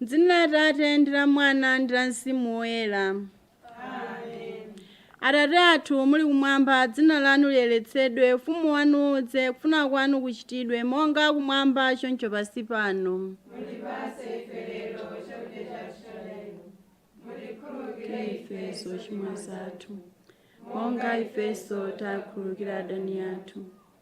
M'dzina la Atate ndi la Mwana ndi la Mzimu Woyera. Atate athu muli kumwamba, dzina lanu liyeretsedwe, ufumu wanu udze, kufuna kwanu kuchitidwe, monga kumwamba choncho pansi pano. Mutipatse ife lero chakudya chathu cha lero. Mutikhululukire ife zochimwa zathu monga ifenso takhululukira adani athu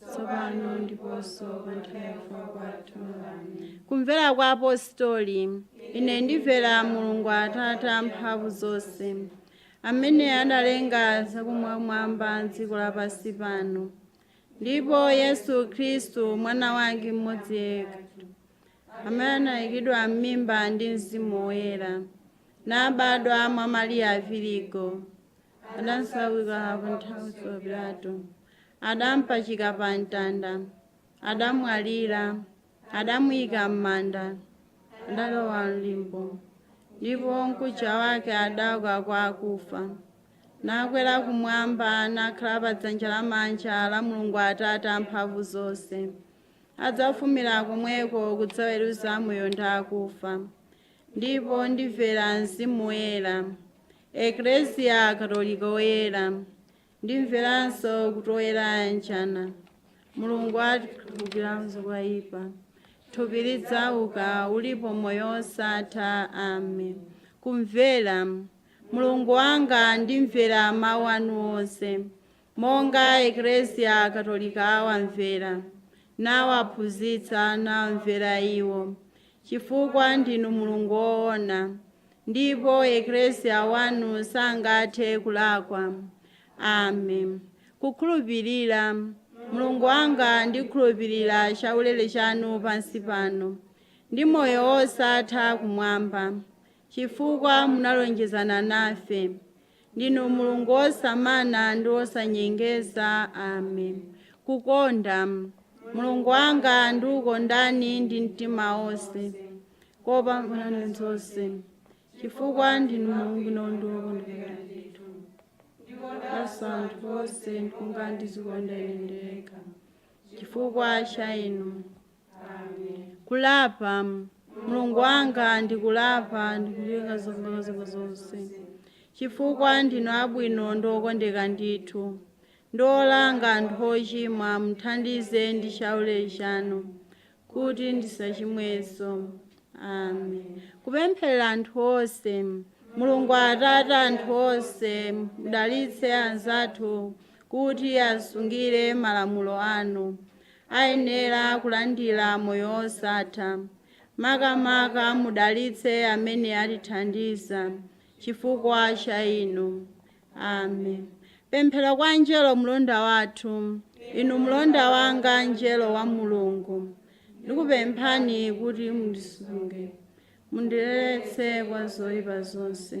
tsopano ndiponso pa nthawi ya kufa kwathu amen kumvera kwa apostoli ine ndimvera mulungu atate amphamvu zonse amene analenga zakumwamwamba dziko lapansi pano ndipo yesu khristu mwana wake mmodzi yekha amene anayikidwa m'mimba ndi mzimu woyera nabadwa mwa mariya virigo adasaukira pa nthawi ya pilato adampachika pa mtanda, adamwalira, adamuika m'manda, adalowa m'limbo, ndipo mkucha wake adauka kwa akufa, nakwera kumwamba, nakhala pa dzanja lamanja la Mulungu Atate amphamvu zonse. Adzafumira komweko kudzaweruza amoyo ndi akufa. Ndipo ndimvera Mzimu Woyera, Eklesia Katolika Woyera, Ndimveranso kuti oyera ayanjana, Mulungu atikhululukira zoipa, thupi lidzauka, ulipo moyo wosatha. Amen. Kumvera. Mulungu wanga, ndimvera mawu anu onse, monga Eklesia Katolika awamvera, nawaphunzitsa, nawamvera iwo. chifukwa ndinu Mulungu woona, ndipo Eklesia wanu sangathe kulakwa. Amen. Kukhulupirira Mulungu wanga ndikhulupirira chaulere chanu pansi pano, ndi moyo wosatha kumwamba, chifukwa munalonjezana nafe. ndinu mulungu wosamana ndi wosanyengeza amen kukonda mulungu wanga ndikukondani ndi mtima wonse kopambana zonse chifukwa ndinu mulungu wabwino ndi okondeka ndithu ndikondanso anthu onse monga ndizikonda ine ndekha chifukwa cha inu kulapa mulungu wanga ndikulapa ndikuleka zolakwa zanga zonse chifukwa ndinu abwino ndi okondeka ndithu ndi olanga anthu ochimwa muthandize ndi chaulere chanu kuti ndisachimwenso amen kupempherera anthu onse mulungu atate a anthu onse mudalitse anzathu kuti asungire malamulo anu ayenera kulandira moyo wosatha. Makamaka mudalitse amene atithandiza chifukwa cha inu. Amen. Pemphero kwa Mngelo Mlonda wathu. Inu mlonda wanga Mngelo wa Mulungu, ndikupemphani kuti mundisunge, mundiletse kwa zoipa zonse.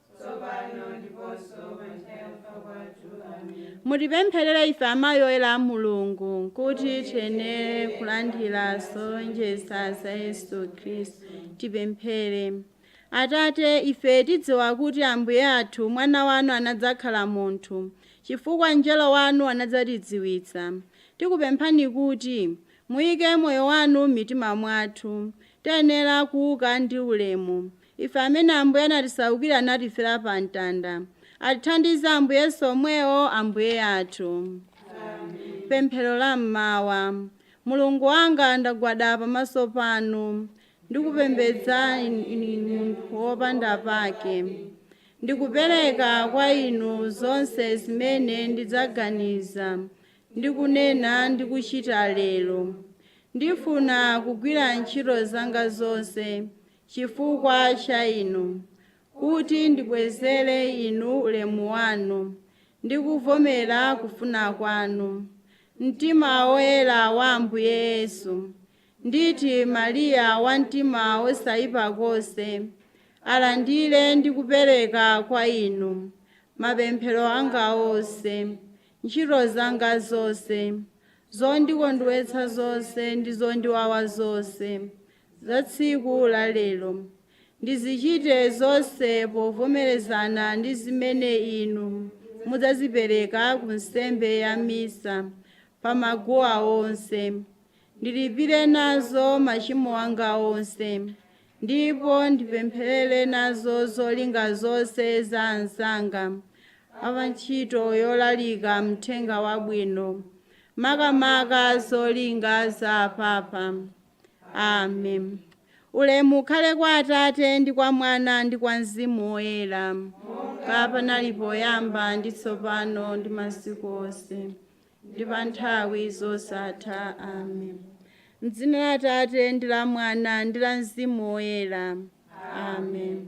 mutipempherere ife amayi oyera a mulungu kuti tiyenere kulandira zolonjeza za yesu khristu tipemphere atate ife tidziwa kuti ambuye athu mwana wanu anadzakhala munthu chifukwa mngelo wanu anadzatidziwitsa tikupemphani kuti muyike moyo wanu m'mitima mwathu tiyenere kuuka ndi ulemu Ife amene Ambuye anatisaukira natifera pa mtanda, atithandize Ambuye Yesu omwewo Ambuye athu. Amen. Pemphero la mmawa. Mulungu wanga ndagwada pamaso panu ndikupembedzani ine munthu wopanda pake. Ndikupereka kwa inu zonse zimene ndidzaganiza ndi kunena ndi kuchita lero. Ndifuna kugwira ntchito zanga zonse chifukwa cha Inu, kuti ndibwezere Inu ulemu wanu, ndi kuvomera kufuna kwanu, mtima woyera wa Ambuye Yesu, nditi, Mariya wa mtima wosaipa konse, alandire ndi kupereka kwa Inu mapemphero anga onse, ntchito zanga zonse, zondikondwetsa zonse ndi zondiwawa zonse. za tsiku la lero. Ndizichite zonse povomerezana ndi zimene inu mudzazipereka ku nsembe ya Misa pa maguwa onse. Ndilipire nazo machimo anga onse ndipo ndipempherere nazo zolinga zonse za anzanga a pa ntchito yolalika Mthenga Wabwino, makamaka zolinga za Apapa. amen ulemu ukhale kwa atate ndi kwa mwana ndi kwa mzimu woyera monga panali poyamba ndi tsopano ndi masiku onse ndi pa nthawi zosatha amen mdzina la atate ndi la mwana ndi la mzimu woyera amen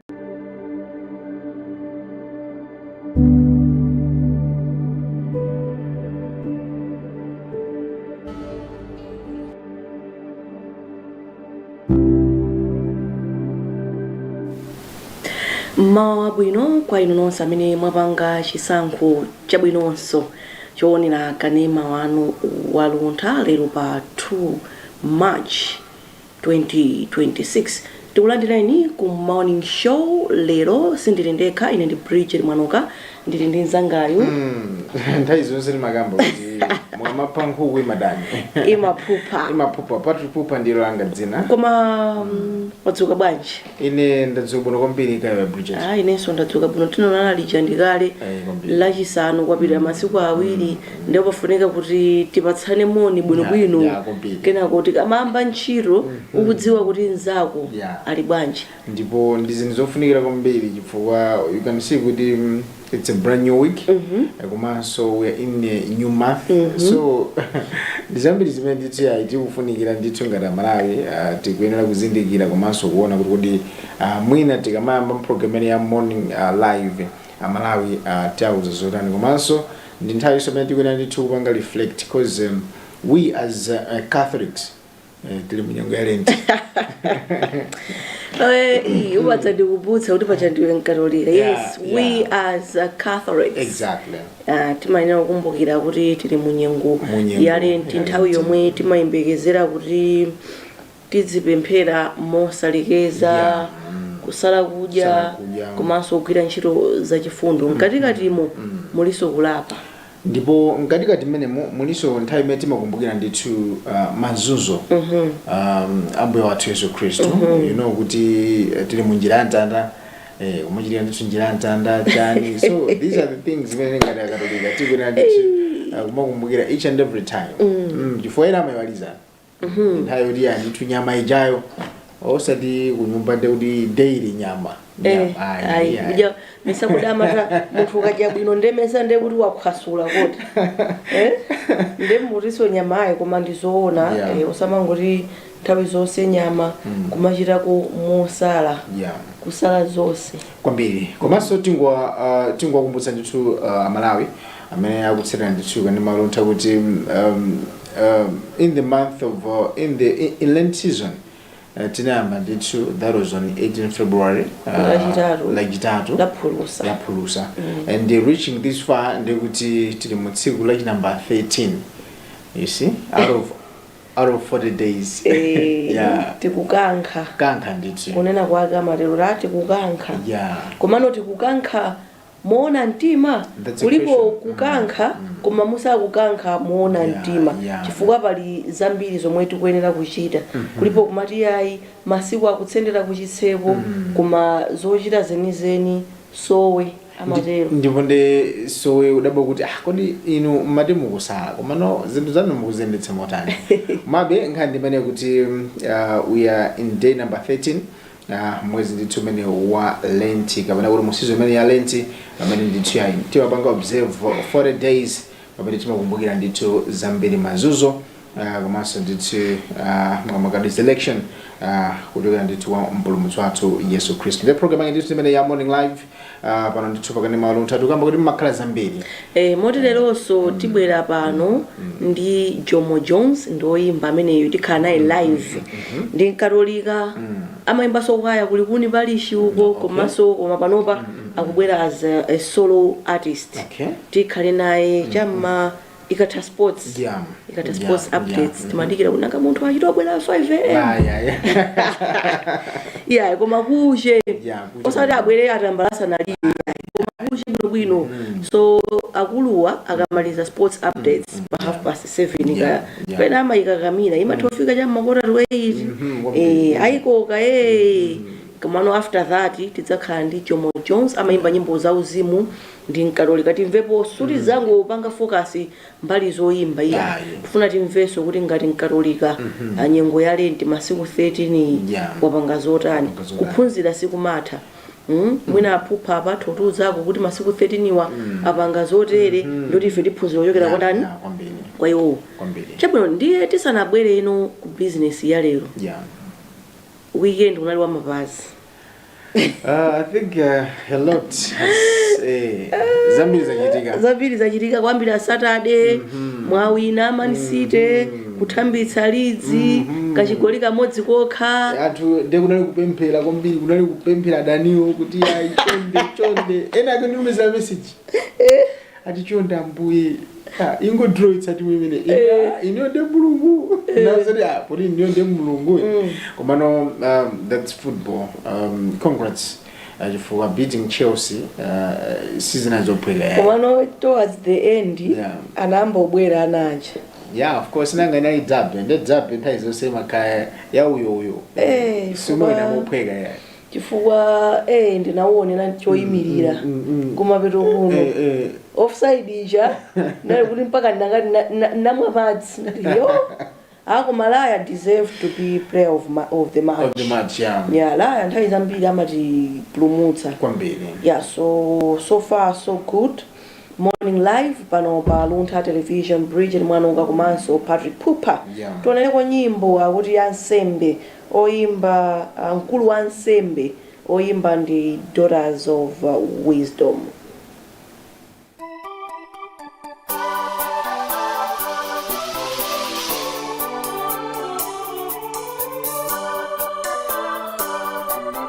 mmawa wabwino kwa inu nonse amene mwapanga chisankho chabwinonso choonera kanema wanu wa Luntha lero pa 2 march 2026 tikulandireni ku morning show lero sindili ndekha ine ndi bridget mwanuka ndili ndi mzangayu nthawi zonse limakamba kuti mukamapha nkhuku ndithu imaphupha imaphupha Phuphaphupha ndilo langa dzina koma mm, wadzuka bwanji ine ndadzuka bwino kwambiri kaya bridget Ah, inenso ndadzuka bwino tinaonana lija ndikale Eh, kwambiri. lachisanu kwapita masiku awiri ndipo pafunika kuti tipatsane moni Ya, bwinobwino ya, kwambiri. kenako tikamayamba ntchito ukudziwa kuti mnzako Ya. ali bwanji ndipo ndi zinthu zofunikira kwambiri chifukwa you can see kuti mm, It's a brand new week mm -hmm. komanso we are in a new month mm -hmm. so ndizambiri zimene ndithu ayi tikufunikira ndithu ngati amalawi uh, tikuyenera kuzindikira komanso kuona kuti kodi uh, mwina tikamayamba program imene ya morning uh, live amalawi uh, tiauza zotani komanso ndi nthawi yonso imene tikuyenera ndithu kupanga reflect because um, we as uh, catholics Eh, tili munyengo ya lenti upatsa ndikukumbutsa kuti paja ndiwe mkatolika Yeah, yes we yeah. as a catholics exactly Ah, timayenera kukumbukira kuti tili munyengo Munyengo ya lenti nthawi Lenti. yomwe timayembekezera kuti tizipemphera mosalekeza Yeah. kusala kudya Kusala kudya. komanso kugwira ntchito zachifundo mkatikatimo mulinso kulapa ndipo mkatikati mmenemo mulinso nthawi imene timakumbukira ndithu uh, mazunzo um, ambuye wathu yesu khristu you know kuti eh, tili mu njira ya mtanda eh, kumachitira ndithu njira ya mtanda chani so these are the things zimene ngati akatolika tikuyenera ndithu uh, kumakumbukira each and every time mm. chifukwa ena amaiwala nthawi yoti ayi ndithu nyama ijayo osati kunyumba nde kuti daily nyama Eh, Nyama, ayi, ayi, ayi. kuja mesa kudya amati munthu ukadya bwino ndemesa nde kuti wakhwasula kuti Eh? nde mutinso nyama ayi koma ndizoona Yeah. eh, osamangoti nthawi zonse nyama kumachitako mosala Yeah. kusala zonse kwambiri komanso tingowa uh, tingowakumbutsa ndithu uh, amalawi amene akutsatira ndithu kanema Luntha kuti um, um, in the month of uh, in the in, in lent season uh, tinayamba ndithu that was on 18 february Lachitatu. lachitatu laphulusa laphulusa and uh, reaching this far ndekuti tili mu tsiku la chinamba 13 you see out of out of 40 days Eh, yeah tikukankha kankha ndithu kunena kwake amatero la tikukankha yeah komano tikukankha moona mtima That's a kulipo question. kukankha koma musakukankha moona Yeah, mtima yeah. chifukwa pali zambiri zomwe tikuyenera kuchita kulipo komati ayi masiku akutsendera kuchitseko koma zochita zenizeni sowe amatero ndipo nde sowe udabwa kuti ah kodi inu mmati mukusala komano zinthu zanu mukuziyendetsa motani mabe nkhani ndi imene kuti mm, uh, we are in day number 13 Ah, mwezi ndithu umene wa lenti kapena kuti mu season imene ya lenti pamene ndithu yayi timapanga observe for 40 days pamene timakumbukira ndithu zambiri mazunzo ah, komanso ndithu ah, makamaka resurrection ah, kuchokera ndithu wa mpulumutsi wathu yesu khristu ndi program yake ndithu imeneyi ya morning live Ah, pano ndithu pakanema luntha tikukamba kuti mmakhala zambiri Eh, moti leronso tibwera pano ndi jomo jones ndi oyimba ameneyo tikhala naye live ndi mkatolika amayimbanso kwaya ku Likuni parish uko komanso koma panopa akubwera as a, a solo artist Okay. tikhale naye chamma ikatha sports Yeah. ikatha Yeah, sports yeah. updates Mhm. timadikira kuti nanga munthu achite kubwera 5 am Yeah, yeah, yeah. iya koma kuche Yeah, kuche. osati abwere atambalasa naliye koma kuche bwinobwino so akuluwa akamaliza sports updates pa half past seven Yeah, kaya yeah. pena amayikakamira imatha kufika cha ma quarter to eight Mhm, wa- eh, ayikoka eh. komano after that tidzakhala ndi jomo jones amayimba nyimbo za uzimu ndi mkatolika timvepo suti zangopanga focus mbali zoyimba ayi Yeah, yeah. tifuna timvenso kuti ngati mkatolika ah, nyengo ya lenti masiku 13 iyi Yeah. wapanga zotani Wapanga zotani. kuphunzira sikumatha Mm? mwina aphupha apatha kutiuzako kuti masiku 13wa apanga zotere ndoti ife tiphunzira kuchokera Yeah, kwatani yeah, kwambiri kwa iwowo kwambiri chabwino ndiye tisanabwere kuno ku bizinesi ya lero yeah weekend kunali wa mapazi Uh, I think uh, a lot has, eh, zambiri zachitika zambiri zachitika kwambiri Saturday mwawina man city kuthambitsa Leeds kachigoli kamodzi kokha anthu nde kunali kupemphera kwambiri kunali kupemphera adaniwo kuti ayi chonde chonde ena akunditumizira message ati chonde ambuye ah, ingodrawitsa timu imene Ina- iniyo ndi mulungu nazati ah, poti iniyo ndi mulungu komano um, thats football um, congrats ah, chifukwa beating chelsea ah, sizinali zophweka yayi. komano towards the end Yeah. anayamba kubwera ana aja yeah of course nanga nayi dzabe nde dzabe nthawi zonse makaya ya uyo uyo Eh, simwena kuba- mophweka yayi chifukwa eh ndinauonera choyimirira kumapeto kuno Eh, eh. offside ija ndali kuti mpaka ndangati na- na- namwa madzi ndati yo ako malaya deserves to be player of, ma, of the match Of the match, yeah. yeah laya nthawi zambiri amatipulumutsa kwambiri yeah so so far so good morning live pano pa luntha television bridget mwanonga komanso patrick pupa Yeah. tionereko nyimbo akuti ya nsembe Oyimba, Mkulu wa ansembe, oyimba ndi Daughters of Wisdom.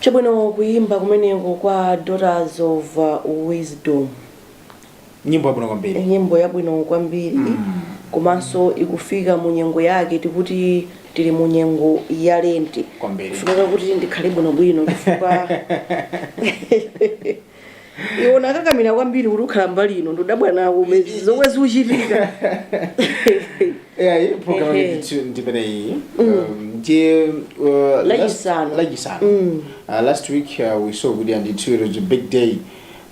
chabwino kuyimba kumeneko kwa daughters of uh, wisdom nyimbo yabwino kwambiri nyimbo yabwino kwambiri komanso ikufika mu nyengo yake tikuti tili mu nyengo ya lenti Kwambiri. kufunika kuti ndikhale bwinobwino chifukwa iwo anakakamira kwambiri kuti ukhala mbali ino ndudabwa nawo umenezi zomwe zikuchitika eyi program Ehe. yathu ndimene iyi Um, ndiye uh, last- Lachisanu. lachisanu Uh, last week uh, we saw kuti andithu it was a big day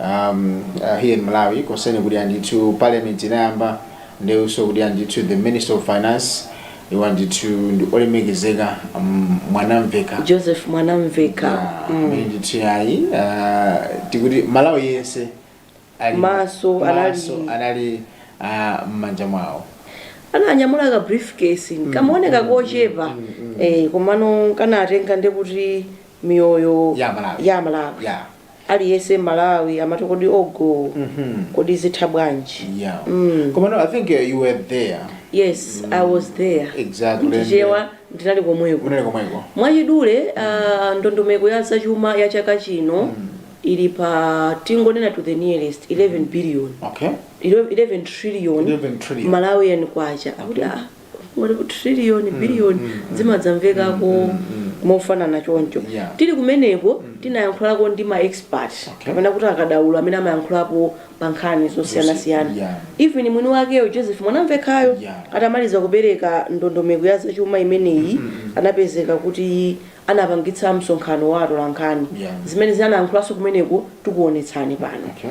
um, uh, here in malawi concerning kuti andithu parliament inayamba ndiye we saw kuti andithu the minister of finance iwo ndithu ndi olemekezeka mm, mwanamveka joseph mwanamveka Ah, mm. amene ndithu yayi ah, tikuti malawi yense ali- Maso, maso anali- anali ah, m'manja mwawo ananyamula ka briefcase kamaoneka kochepa eh, komano kanatenga ndekuti miyoyo Ya Malawi. ya malawi ya aliyese malawi amati kodi ogoo kodi zitha bwanji Yeah. Mm. Koma no, I think uh, you were there. yes i was there Exactly. ndijewa ndinali komweko Unali komweko. mwachidule uh, ndondomeko ya zachuma ya chaka chino ili pa tingonena to the nearest 11 billion Okay. 11 trillion 11 trillion. malawian kwacha akuti ah ngati ku trillion mm, billion mm, mm, zimadzamvekako mm, mm, mm. mofanana choncho yeah. tili kumeneko mm. tinayankhulako ndi ma expert okay. kapena kuti akadaulo amene amayankhulapo pa nkhani zosiyanasiyana yeah. even mwini wakeyo joseph mwanamvekhayo yeah. atamaliza kupereka ndondomeko ya zachuma imeneyi mm -hmm. anapezeka kuti anapangitsa msonkhano wa atolankhani yeah. zimene anayankhulanso kumeneko tikuonetsani pano okay.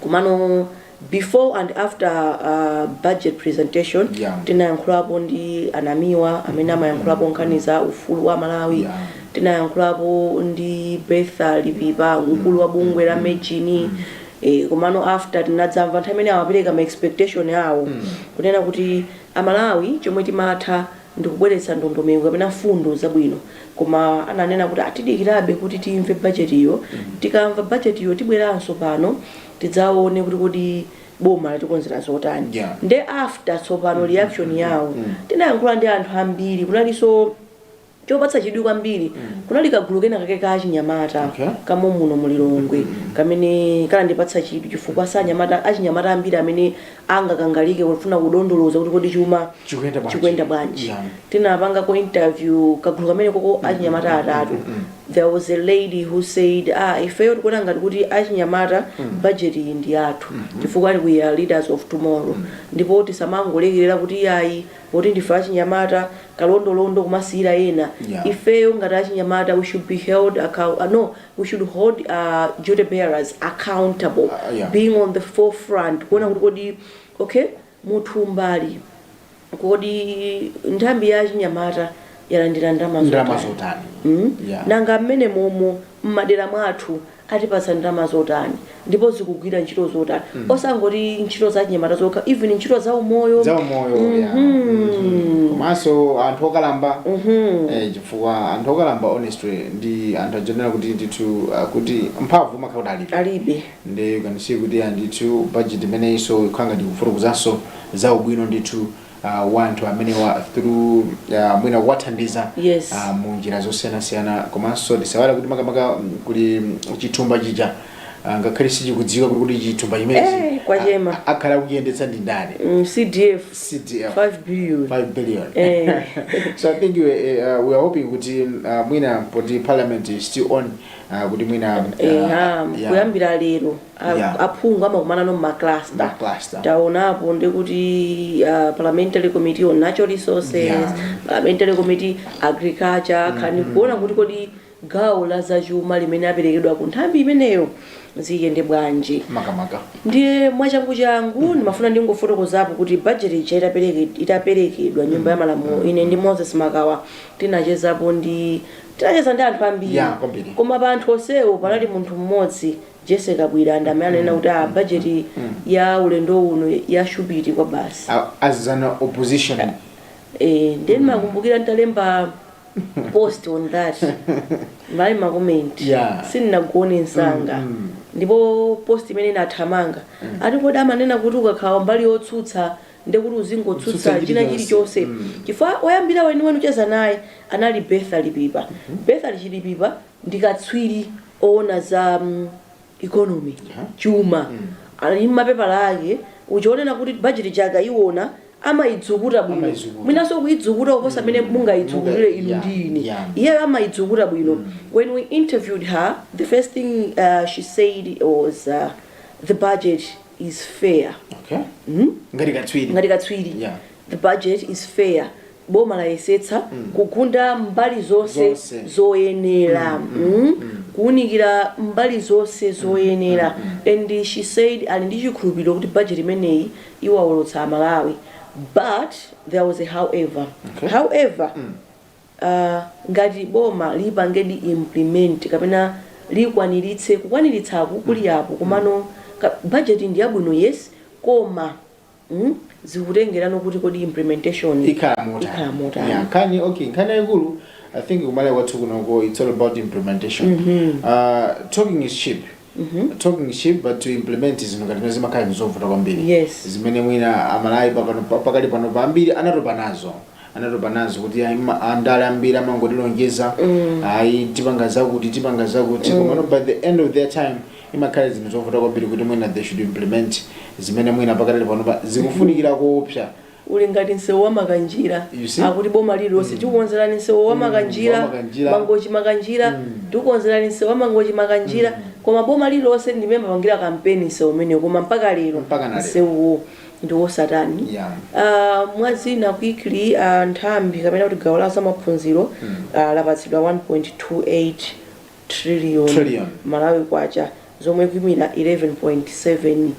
Komano before and after uh, budget presentation Yeah. tinayankhulapo ndi a Namiwa amene amayankhulapo nkhani za ufulu wa malawi Yeah. tinayankhulapo ndi betha lipipa mkulu wa bungwe la mejini eh, komano after tinadzamva nthawi imene amapereka ma expectation awo kunena kuti aMalawi chomwe timatha ndi kubweretsa ndondomeko kapena mfundo zabwino koma ananena kuti atidikirabe kuti timve budget-yo tikamva budget-yo tibweranso pano tidzaone kuti kodi boma latikonzera zotani Yeah. nde after tsopano reaction yawo tinayankhula ndi anthu ambiri kunalinso chopatsa chidwi kwambiri kunali kagulu kena kake ka achinyamata Okay. komwe muno mu Lilongwe kamene kanandipatsa chidwi chifukwa si anyamata achinyamata ambiri amene angakangalike kufuna kudondoloza kuti kodi chuma Chikuyenda bwanji? chikuyenda bwanji Yeah. tinapangako interview kagulu kameneko ka achinyamata atatu there was a lady who said ah ifeyo tikuona ngati kuti achinyamata budget iyi ndi yathu chifukwa we are leaders of tomorrow ndipo tisamangolekerera kuti yayi poti ndife achinyamata kalondolondo kumasiyira ena Yeah. ifeyo ngati achinyamata we should be held account, uh, no we should hold uh, duty bearers accountable uh, uh, yeah. being on the forefront kuona kuti kodi okay mwathu mbali kodi nthambi ya chinyamata yalandira ndalama zotani mm? yeah. nanga mmenemo mmo mmadera mwathu atipatsa ndalama zotani ndipo zikugwira ntchito zotani osangoti ntchito za chinyamata zokha even ntchito za umoyo za umoyo ya. Mhm. komanso anthu okalamba eh, chifukwa anthu okalamba honestly ndi anthu oyenera kuti ndithu ah, kuti mphamvu amakhala kuti alipo alibe ndi kanisi kuti andithu budget imeneyinso ikhanga ndikufutukuzanso za ubwino ndithu uh, wa anthu amenewa through uh, mwina kuwathandiza Yes. uh, mu njira zosiyanasiyana komanso tisaiwale kuti makamaka mm, kuli mm, chithumba chija uh, ngakhale sichikudziwika kuti kuti chithumba Eh, chimenechi kwachema. a- a- akhale akuchiyendetsa ndi ndani mm, cdf CDF 5 billion 5 billion Eh. so i think we, uh, we are hoping kuti uh, mwina poti parliament is still on uh, kuti mwina uh, Eha, yeah. kuyambira lero a- Yeah. aphungu amakumanano m'macluster Macluster. taonapo ndikuti uh, parliamentary committee on natural resources Yeah. parliamentary committee agriculture nkhani ndi kuona kuti kodi gawo la zachuma limene laperekedwa ku nthambi imeneyo ziyende bwanji makamaka ndiye mwachangu changu ndimafuna ndingofotokozapo kuti budget ija itapereke- itaperekedwa nyumba ya malamulo ine ndi moses makawa tinachezapo ndi tinacheza ndi anthu ambiri Yeah, kwambiri. koma pa anthu onsewo panali munthu mmodzi Jessy Kabwira ndi amene ananena kuti a budget ya ulendo uno yashupiti kwabasi. A- as an opposition Eh, ndiye ndimakumbukira nditalemba post on that analipo ma comment Yeah. sindinagone msanga ndipo post imene inathamanga ati kodi amanena kuti ukakhala mbali yotsutsa ndiye kuti uzingotsutsa Utsutsa china chilichonse. chilichonse chifukwa oyambira weniweni kucheza naye anali Bertha Chikadza Bertha Chikadza ndi katswiri owona za mm, economy chuma ali ndi mapepala ake kuchionekera kuti bajeti akaiwona amaidzukuta bwino Amaidzukuta. mwinanso kuidzukuta kuposa amene mungaidzukutire Munga- inu yeah, ndi ine yeah. iyeyo amaidzukuta bwino when we interviewed her the first thing uh, she said was uh, the budget is fair okay ngati katswiri ngati katswiri Yeah. the budget is fair Boma layesetsa kugunda mbali zonse zoyenera, kuunikira mbali zonse zoyenera and she said ali ndi chikhulupiriro kuti budget imeneyi iwaolotsa a Malawi but there was a however, however uh, ngati boma lipangedi implement kapena likwaniritse, kukwaniritsaku kuli apo komano budget ndiyabwino yes koma. mm? zikutengerano kuti kodi implementation ikhala motani ikhala motani yeah nkhani okay nkhani yayikulu i think ku Malawi kwathu kunoko it's all about implementation mm -hmm. uh, talking is cheap Mm -hmm. talking is cheap but to implement zinthu ngati zimenezi zimakhala ndi zovuta kwambiri yes zimene mwina a Malawi pakano pakali pano pambiri anatopa nazo anatopa nazo kuti ayi ma- andale ambiri amangotilonjeza ayi tipanga zakuti tipanga zakuti komano by the end of their time imakhala zinthu zovuta kwambiri kuti mwina they should implement zimene mwina pakali panopa zikufunikira kuopsa uli ngati msewu wa makanjira You see? akuti boma lililonse tikukonzerani msewu wa makanjira wa makanjira. mangochi makanjira tikukonzerani msewu wa mangochi makanjira koma boma lililonse ndimene amapangira kampeni msewu umenewo koma mpaka lero Mpaka na lero. msewuwo ndi wosatani Yeah. Ah, mwa zina quickly ah, nthambi kapena kuti gawo la zamaphunziro ah, lapatsidwa 1.28 trillion, Trillion. malawi kwacha zomwe zikuimira 11.7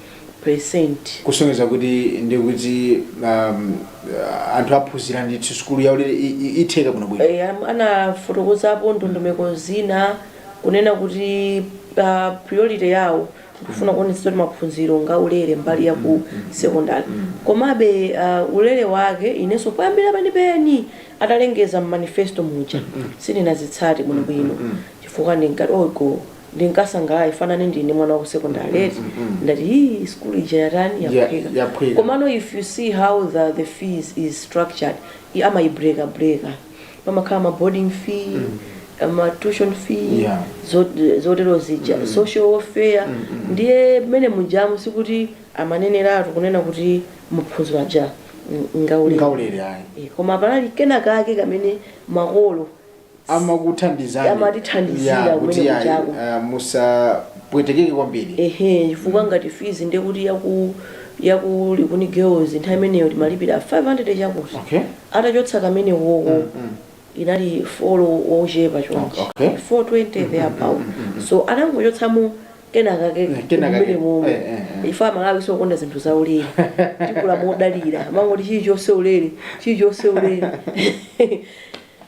percent kusonyeza kuti ndi kuti um, uh, anthu aphunzira ndithu sukulu yaulere i- i- itheka bwino bwino Eh, am- anafotokozapo ndondomeko zina kunena kuti ah, priority yawo kufuna kuonetsetsa kuti maphunziro ngaulere mbali ya ku sekondari komabe uh, ulere wake inenso poyambira penipeni atalengeza mmanifesto muja sindinazitsate bwinobwino chifukwa ndinkati ogo ndinkasangalala ngati nane ndine mwana wa ku sekondari eti ndati hii sukulu ija yatani Ya- yaphweka yaphweka. komano if you see how the, the fees is structured i- amayibreka breka pamakhala ma boarding fee ma tuition fee Yeah. zo- zotero zija social welfare ndiye mmene mujamu sikuti amaneneratu kunena kuti maphunziro aja ng- ngaulere ngaulere ayi Eh, koma panali kena kake kamene makolo amakuthandizani Amatithandizira Yeah, kumene kuti ayi, kuchako. ah, musapwetekeke kwambiri ehe chifukwa ngati fees ndekuti yaku yaku likuni girls nthawi imeneyo timalipira 500 chakuti okay atachotsa kamenewoko inali folo wochepa chonchi Okay. 420 there about so anangochotsamo kenakake Eh, kenakake. kumene momwe Eh, eh, eh. ife amalawi sitikonda zinthu za ulere takula modalira mangoti chilichonse ulere chilichonse ulere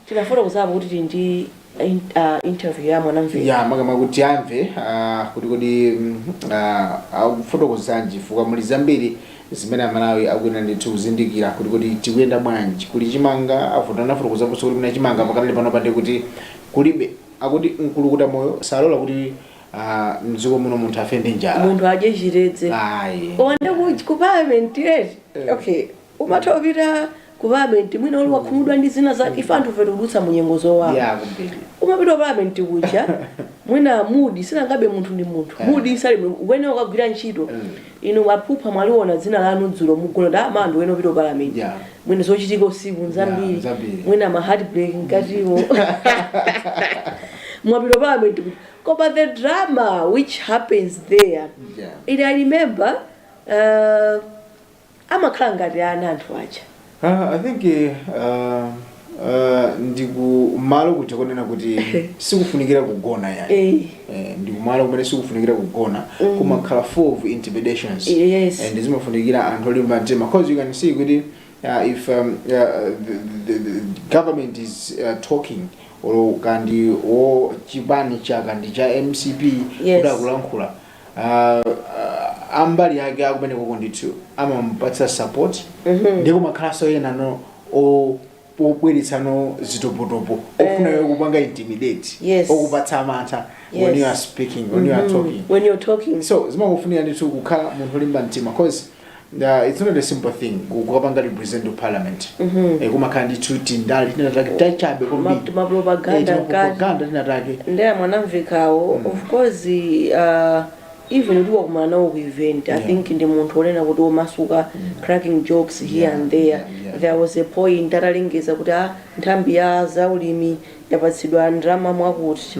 tinafotokozapo kuti tili ndi In, uh, interview ya mwanamveka ya magama kuti amve ah, kuti kodi mm, ah, akufotokozanji chifukwa muli zambiri zimene amalawi akuyenera ndithu kuzindikira kuti kodi tikuyenda bwanji kuli chimanga afuta anafotokoza kuti kulibe chimanga pakanali pano pate kuti kulibe akuti mkulukuta moyo salola kuti ah, mdziko muno munthu afe ndi njala munthu adye chitedze ayi koma ndi ku palamenti eti okay umatha kupita ku parliament mwina uli wakhumudwa ndi zina za ife anthufe tikudutsa mu nyengo zowawa ya kumbiri umapita parliament kuja mwina mudzi sunangambe munthu ndi munthu Eh. mudzi suli mu- ukuyenera ukagwira ntchito Mm. inu mwaphupha mwaliona dzina lanu dzulo mwagona ndi ma anthu ena mupita parliament ya mwina zochitika usiku nzambiri Yeah, zambiri. mwina ma heartbreak mkatiwo mwapita parliament kuja koma the drama which happens there yeah. It I remember uh, amakhala ngati ana anthu aja Ah, I think eh, ah, ah, ndikumalo kuja konena kuti sikufunikira kugona yani Eh. Eh, ndikumalo kumene sikufunikira kugona kumakhala full of intimidations Yes. and zimafunikira anthu olimba mtima because you can see kuti ah, if um, ah, the, the, the government is ah, talking or kapena wa chipani chake ndi cha mcp Yes. kuti akulankhula ah, ah, ambali yake akumeneko ndithu amamupatsa support ndi kumakhalanso ena no o- obweretsanso zitopotopo ofuna iwe kupanga intimidate Yes. okupatsa amantha when Yes. you are speaking when you are talking when you're talking so zimakufunika ndithu kukhala munthu olimba mtima cause Uh, it's not a simple thing ku- kukapanga represent ku parliament Eh, kumakhala ndithu tindale tinatake tachabe Ma- mapropaganda mkati. kwambiri tinatake nde a mwanamvekawo of course uh, even utawakumana nawo ku event i Yeah. think ndi munthu onena kuti omasuka cracking jokes here Yeah, and there yeah, yeah. there was a point atalengeza kuti a nthambi ya zaulimi yapatsidwa ndalama mwakuti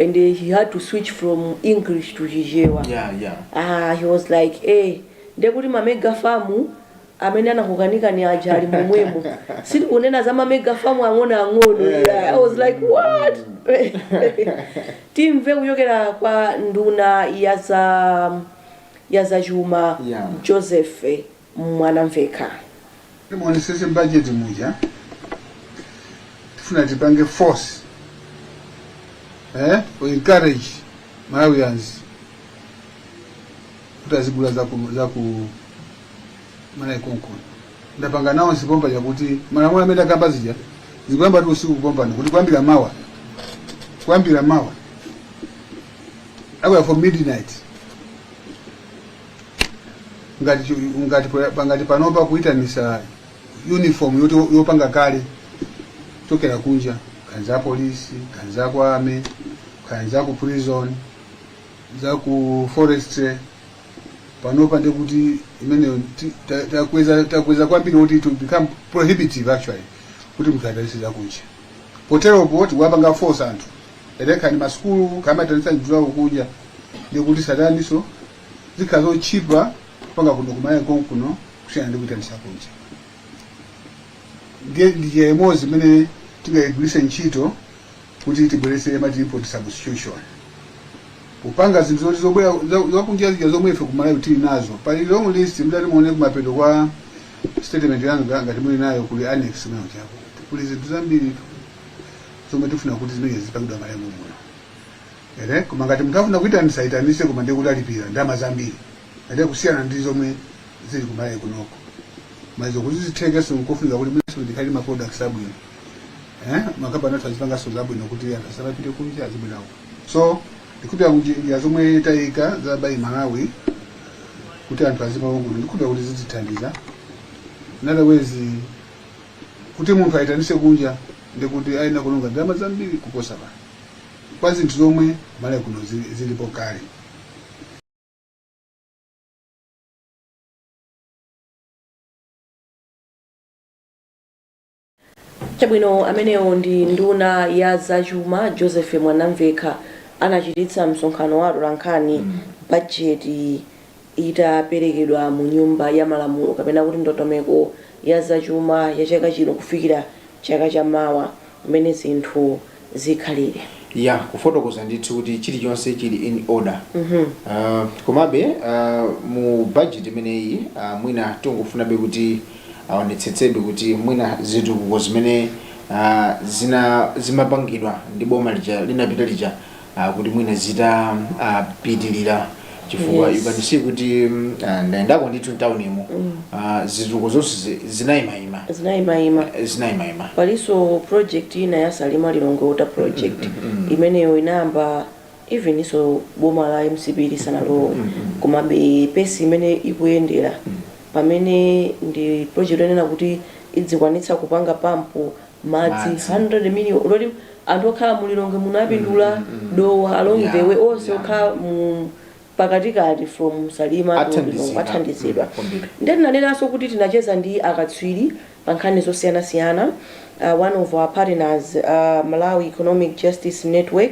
and eh, he had to switch from english to chichewa yeah yeah ah, he was like eh, ndekuti mamega famu amene anakukanikani aja ali momwemo sitikunena za mamega famu ang'onoang'ono Yeah, i was like what timve kuchokera kwa nduna ya za ya zachuma Yeah. joseph mwanamvekha. Muonesese m'bajeti muja tifuna tipange force to encourage Malawians kuti azigula zaku zaku Malawi konkuno ndapanga announce pompa zakuti malamulo amene ndakamba zija zikuyambatu usiku kupombana kuti kuyambira mawa kuyambira mawa zikuyamba from midnight ngati chi- ngati pa- ngati panopa kuitanitsa uniform yoti yopanga kale kuchokera kunja kaya ndi za polisi kaya ndi za ku army kaya ndi za ku prison za ku forestry panopa ndekuti imeneyo ti- ta- takweza takweza kwambiri kuti it will become prohibitive actually kuti munthu aitanitse zakunja poteropo tikuwapanga force anthu olo kaya ndi masukulu akamaitanitsa nyula kunja ndekuti saitanitsanso zikhala zotchipa kupanga kuno kumalawi konkuno kusiyana ndi kuitanitsa kunja ndiye ndi njira imodzi imene tingayigwiritse ntchito kuti tibweretse mati import substitution kupanga zinthu zoti zobwera za- zakunja zija zomwe ife kumalawi tili nazo pali long list mutati muone kumapeto kwa statement yanga nga- ngati muli nayo kuli annex kumene chako kuli zinthu zambiri zomwe tifuna kuti zimenezo zizipangidwa malawi muno Ere, koma ngati munthu afuna kuitanitsa aitanitse koma ndiye kuti alipira ndalama zambiri ere kusiyana ndi zomwe zili ku Malawi kunoko koma izo kuti zithekenso nkofunika kuti ifenso tikhale ndi ma products abwino eh makampani athu azipanganso zabwino kuti anthu asamapite kunja azibwera kuno so ndikukhulupira kuti njira zomwe tayika za Buy Malawi kuti anthu azigula za kuno ndikukhulupira kuti zitithandiza in other ways kuti munthu aitanitse kunja ndekuti ayenera kulonga ndalama zambiri kuposa pano kwa zinthu zomwe Malawi kuno zili- zilipo kale chabwino amenewo ndi nduna ya zachuma joseph mwanamvekha anachititsa msonkhano wa atolankhani bajeti itaperekedwa mu nyumba ya malamulo kapena kuti ndondomeko ya za chuma ya chaka chino kufikira chaka cha mawa mmene zinthu zikhalire. ya kufotokoza ndithu kuti chilichonse chili in order Ah, komabe ah, mu budget imeneyi ah, mwina tikungofunabe kuti aonetsetsebe kuti mwina zitukuko zimene ah, zina zimapangidwa ndi boma lija linapita lija uh, kuti mwina zitapitirira uh, chifukwa yes. you can see kuti uh, ndayendako ndithu mtaunimo mm. uh, zitukuko zonse zinayimayima zinayimayima zinayimayima palinso project ina ya salima lilongwe water project mm, mm, mm. imeneyo inayamba even isanu boma la mcp lisanalowe mm, mm. komabe pesi imene ikuyendera mm. pamene ndi project onena kuti idzikwanitsa kupanga pampu madzi Madzi. 100 million litre anthu okhala mu lilongwe muno apindule dowa along Yeah, the way onse yeah. okhala mu pakatikati from salima to Athandizidwa. Lilongwe athandizidwa Mm, kwambiri. ndiye tinanenanso kuti tinacheza ndi akatswiri pa nkhani zosiyanasiyana uh, one of our partners uh, malawi economic justice network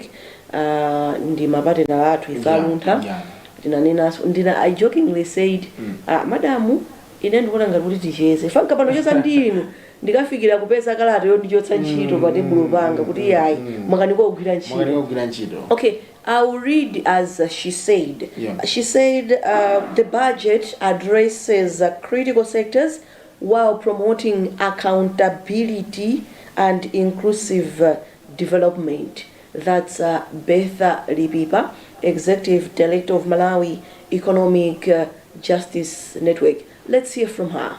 uh, ndi mapatinala athu ife Yeah, aluntha yeah. tinanenanso ndina i jokingly said uh, madamu ine ndikuona ngati kuti ticheze fanka pano cheza ndi inu ndikafikira kupeza kalata yondichotsa ntchito pa tebulo panga kuti yayi mwakanika kugwira ntchito mwakanika kugwira ntchito okay I will read as uh, she said. Yeah. She said uh, the budget addresses uh, critical sectors while promoting accountability and inclusive uh, development. That's uh, Betha Lipipa, Executive Director of Malawi Economic uh, Justice Network. Let's hear from her.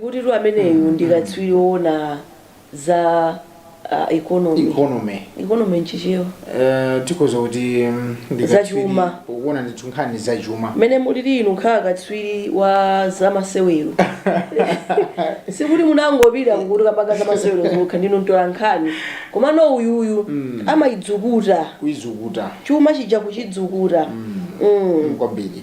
Kutitu ameneyu ndi katswiri woona za ah, economy. economy Economy nchichewa. Eh, tikhoza kuti mm, ndi Za katswiri chuma. woona ndithu nkhani za chuma Mmene mulili inu nkhala katswiri wa zamasewero. Sikuti munangopitira kuti mukamba zamasewero zokha ndinu mtola nkhani. Komano uyuyu amayizukuta. kuizukuta chuma chija kuchizukuta. Mm. kwambiri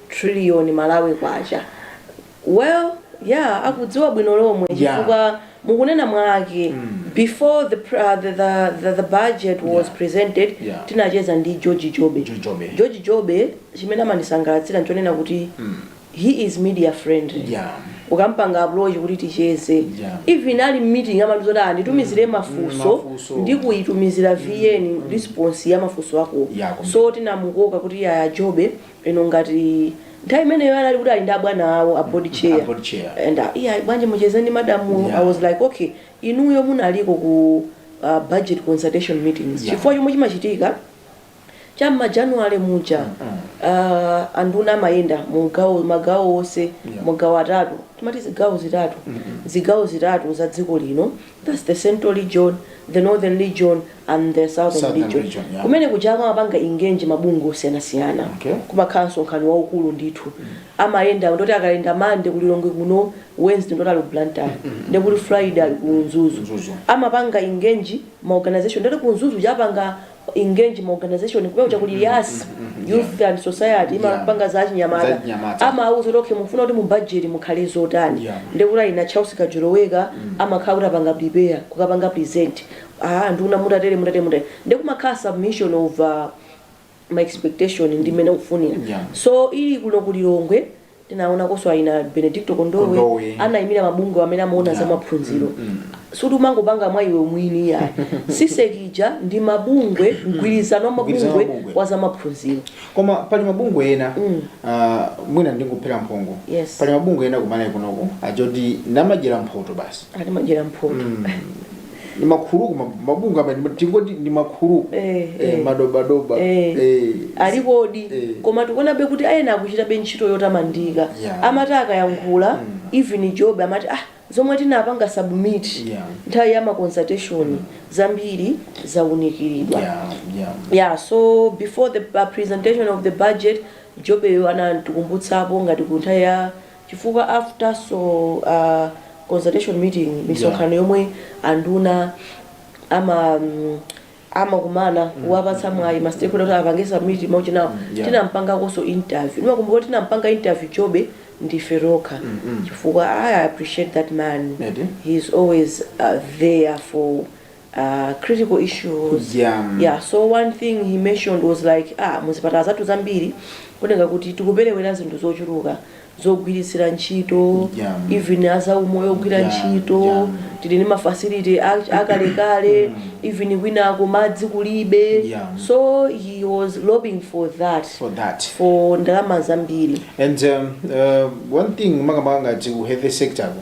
trillion Malawi kwacha well yeah akudziwa bwino lomwe Yeah. chifukwa mukunena mwake before the, pr- uh, the, the, the, the budget was Yeah. presented Yeah. tinacheza ndi George Jobe George Jobe. George Jobe chimene amandisangalatsira nchonena kuti he is media friendly Yeah. ukampanga approach kuti ticheze Yeah. even ali meeting amati zoti nditumizire mafunso mafunso. ndi kuyitumizira vn response ya mafunso ako Yeah, so tinamukoka kuti ah a jobe inu ngati nthawi imeneyo anali kuti ali ndi abwana awo a board chair A board chair. and uh, yeah bwanji mucheze ndi madamu Yeah. i was like okay inuyo munaliko ku uh, budget consultation meetings Yeah. chifukwa chomwe chimachitika cha mmajanuwale muja uh, anduna amayenda mu gawo magawo onse Yeah. magawo atatu timati zigawo zitatu zigawo zitatu za dziko lino Thats the central region, the northern region and the southern Southern region. region, yeah. Kumene kuja amapanga engage mabungwe osiyanasiyana. Okay. Kumakhala msonkhano waukulu ndithu. Amayenda ndoti akayenda Monday ku Lilongwe kuno, Wednesday ndoti ali Blantyre, ndi kuti Friday ali ku Mzuzu. Mzuzu. Amapanga engage ma organization ndoti ku Mzuzu japanga engage ma organization kumene kuja kuli yas youth and society Yeah. imapanga za achinyamata Zachinyamata. amauza kuti okay mufuna kuti mu budget mukhale zotani Yeah. ndekuti aina charles kajoloweka amakhala kuti apanga prepare kukapanga present ah nduna mutatere mutatere mutatere ndekumakhala submission of uh, my expectation ndi mmene ukufunira Yeah. so ili kuno kulilongwe tinaonakonso aina benedicto kondowe, Kondowe. anaimira mabungwe amene amaona za maphunziro suti umangopanga mwa iwe mwini iyayi CSEC ija ndi mabungwe mgwirizano wa Mgwirizano wa mabungwe mabungwe. wa za maphunziro koma pali mabungwe ena ah, mwina ndingophera mphongo Yes. pali mabungwe ena kumalawi kunoko achoti ndi amadyera mphoto basi ati madyera mphoto ndi makhuluku ma- mabungwe amene ndi- tingoti ndi makhuluku Eh, eh, eh. madobadoba Eh. eh, alipodi Eh. koma tikuonabe kuti ena akuchitabe ntchito yotamandika Yeah. amati akayankhula even jobe amati ah zomwe tinapanga submit Yeah. nthawi ya maconsultation zambiri zaunikiridwa yeah, yeah. yeah so before the uh, presentation of the budget jobeyo anatikumbutsapo ngati ku nthawi ya chifukwa after so a consultation meeting yeah misonkhano yomwe anduna ama amakumana kuwapatsa mwayi ma stakeholder kuti apange submit ma issue awo yeah tinampangakonso interview ndimakumbuka kuti tinampanga interview jobe ndife tokha chifukwa i appreciate that man eti he is always uh, there for uh, critical issues Yeah. yeah so one thing he mentioned was like ah muzipatala zathu zambiri kuoneka kuti tikuperewera zinthu zochuluka zogwiritsira ntchito Yeah. even azaumoyo ogwira Yeah, ntchito yeah. tili ndi mafacility a- akalekale even kwinako madzi kulibe Yeah. so he was lobbying for that for that for ndalama zambiri and um, uh, one thing makamaka ngati ku health sector ku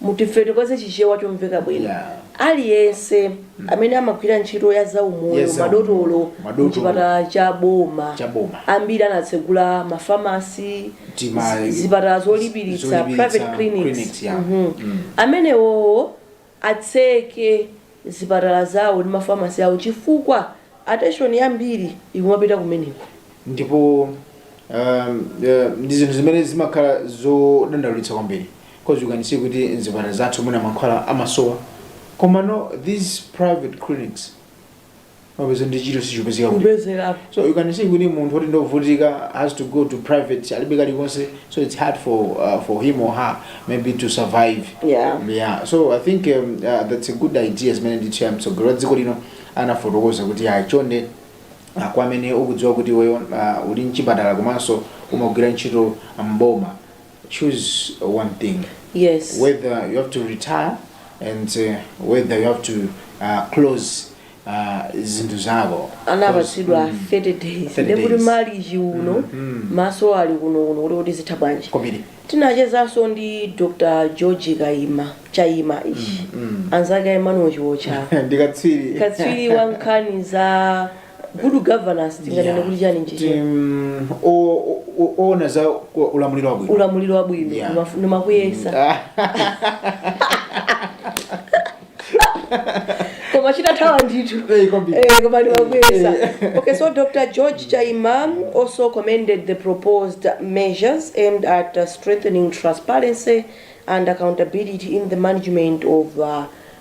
Mutifotokoze chichewa chomveka bwino. Yeah. Aliyense amene amagwira ntchito ya zaumoyo Yes, sir. madotolo Madotolo. mchipatala cha boma Cha boma. ambiri anatsegula mafamasi Tima- zi- zipatala zolipiritsa zolipiritsa, private clinics, clinics yeah. Mhm. amenewowo atseke zipatala zawo ndi mafamasi awo chifukwa ateshoni yambiri ikumapita kumeneko. ndipo um, eh, ndi zinthu zimene zimakhala zodandaulitsa kwambiri because you can see kuti mzipatala zathu mwina mankhwala amasowa komano these private clinics umapeza ndi chito sichipezeka kuti kupezerapo so you can see kuti munthu oti ndovutika has to go to private alibe kalikonse so it's hard for uh, for him or her maybe to survive Yeah. yeah so i think um, uh, that's a good idea zimene ndithu ya mtsogoleri wa dziko lino anafotokoza kuti ayi chonde uh, kwa amene ukudziwa kuti iweyo uh, uli mchipatala komanso umagwira ntchito mboma choose one thing yes whether you have to retire and uh, whether you have to uh, close uh, zinthu zako, anapatsidwa 30 days ndekuti malichi uno maso ali kunokuno kuti zitha bwanji tinachezanso ndi dr george chaima ishi anzake a emmanuel chiwocha katswiri wa nkhani za good governance tinganene Yeah. kuti chani Kuti, nchichi mm, o- o- o- oona za ku- ulamuliro wabwino ulamuliro wabwino Yeah. ndimaf- ndimachiyesa Ah, koma chikuthawa ndithu eh, kwambiri. Eh, koma ndimachiyesa okay so dr george chaima also commended the proposed measures aimed at uh, strengthening transparency and accountability in the management of uh,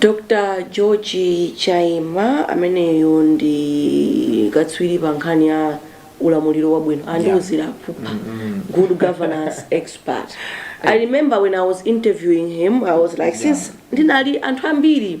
dr george chaima ameneyo ndi katswiri pa nkhani ya ulamuliro wabwino andiuzirapo apa good governance expert i remember when i was interviewing him i was like since ndinali anthu ambiri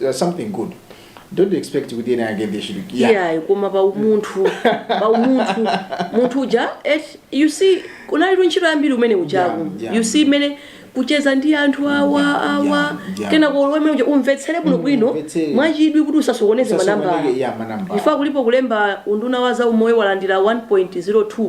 uh, something good don't expect kuti ena yake they should yeah. iyayi koma pa umunthu pa umunthu munthu uja eh, you see kunalitu ntchito yambiri umene uja Yeah, yeah. you see mmene kucheza ndi anthu awa Yeah, awa yeah, yeah. kenako iwe mmene uja umvetsere bwino bwino umvetsere. mwachidwi kuti usasokoneze Usasokoneze, manambala yeah, manambala. ife kulipo kulemba unduna wa za umoyo walandira 1.02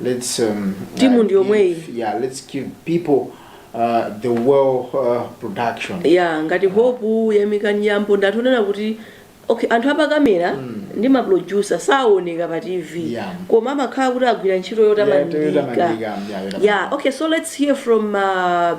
Let's, um, timu ndi yomweyi yeah, let's give people uh, the well uh, production ya ngati hope yamika nyambo ndi anthu onena kuti okay anthu apakamera mm. ndi maproducer saoneka pa tv Yeah. koma amakhala kuti agwira ntchito Yeah, yotamandika yotamandika, yeah, yotamandika. yeah okay so let's hear from uh,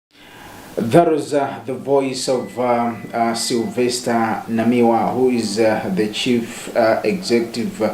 That was uh, the voice of uh, uh, Sylvester Namiwa, who is uh, the chief uh, executive uh,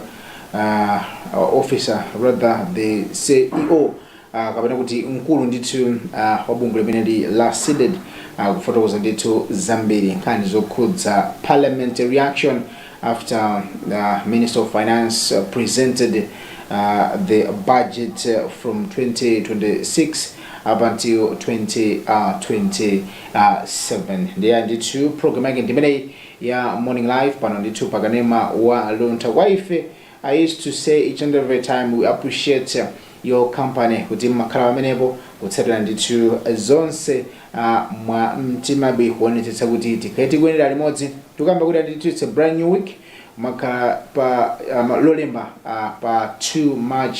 uh, officer, rather the CEO uh, kapena kuti mkulu ndithu uh, wa bungwe limeneli la cdedi uh, kufotokoza ndithu zambiri nkhani zokhudza parliamentary reaction after the Minister of Finance uh, presented uh, the budget uh, from 2026 up until 2027 ndiye ndithu program yake ndimeneyi ya morning live pano ndithu pakanema wa luntha kwa ife I used to say each and every time we appreciate your company kuti mmakhala pamenepo kutsatira ndithu zonse uh, mwa mtima bii kuonetsetsa kuti tikhale tikuyendera limodzi tikukamba kuti ndithu it's a brand new week makhala pa um, lolemba uh, pa 2 march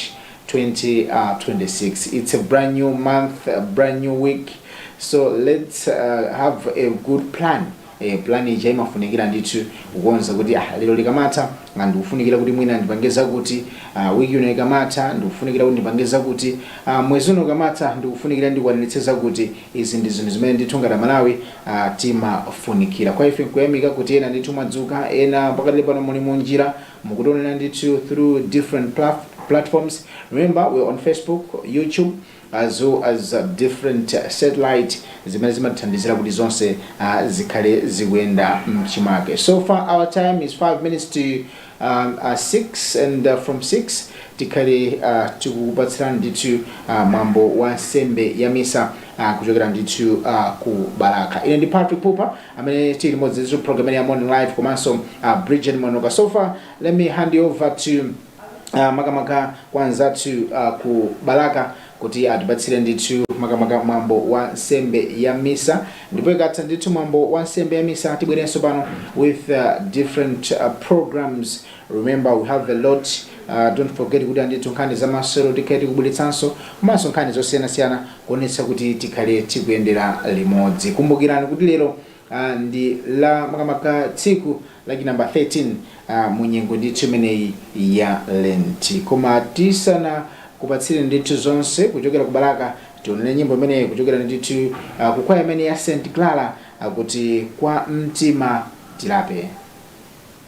2026 it's a brand new month a brand new week so let's uh, have a good plan ee plan ija imafunikira ndithu kukonza kuti ah lero likamatha ah, ndikufunikira kuti mwina ndipange zakuti ah, wiki ino ikamatha ndikufunikira kuti ndipange zakuti ah, mwezi uno ukamatha ndikufunikira ndikwaniritse zakuti izi ndi zinthu zimene ndithu ngati amalawi ah, timafunikira kwa ife nkuyamika kuti ena ndithu mwadzuka ena pakati pano muli munjira mukutionera ndithu through different plat- platforms remember we're on facebook youtube as well as different satellite zimene zimathandizira kuti zonse uh, zikhale zikuyenda mchimake so far our time is 5 minutes to um, uh, 6 and uh, from 6 tikhale uh, tikupatsirani ndithu uh, mwambo wa nsembe ya misa uh, kuchokera ndithu uh, ku balaka ine ndi patrick pupa amene tili limodzi ndithu program ya morning live komanso uh, bridget mwanoka so far let me hand you over to uh, makamaka kwa anzathu uh, ku balaka kuti atipatsire ndithu makamaka mwambo wa nsembe ya misa ndipo ikatha ndithu mwambo wa nsembe ya misa tibwerenso pano with uh, different uh, programs remember we have a lot uh, don't forget kuti ah ndithu nkhani za masewero tikhale tikubweretsanso komanso nkhani zosiyanasiyana kuonetsa kuti tikhale tikuyendera limodzi kumbukirani kuti lero uh, ndi la makamaka tsiku lachi namba 13 uh, mu nyengo ndithu imeneyi ya lenti koma tisanakupatsire ndithu zonse kuchokera ku balaka tionere nyimbo imeneyi kuchokera ndithu uh, ku kwaya imene ya st clara akuti uh, kwa mtima tilape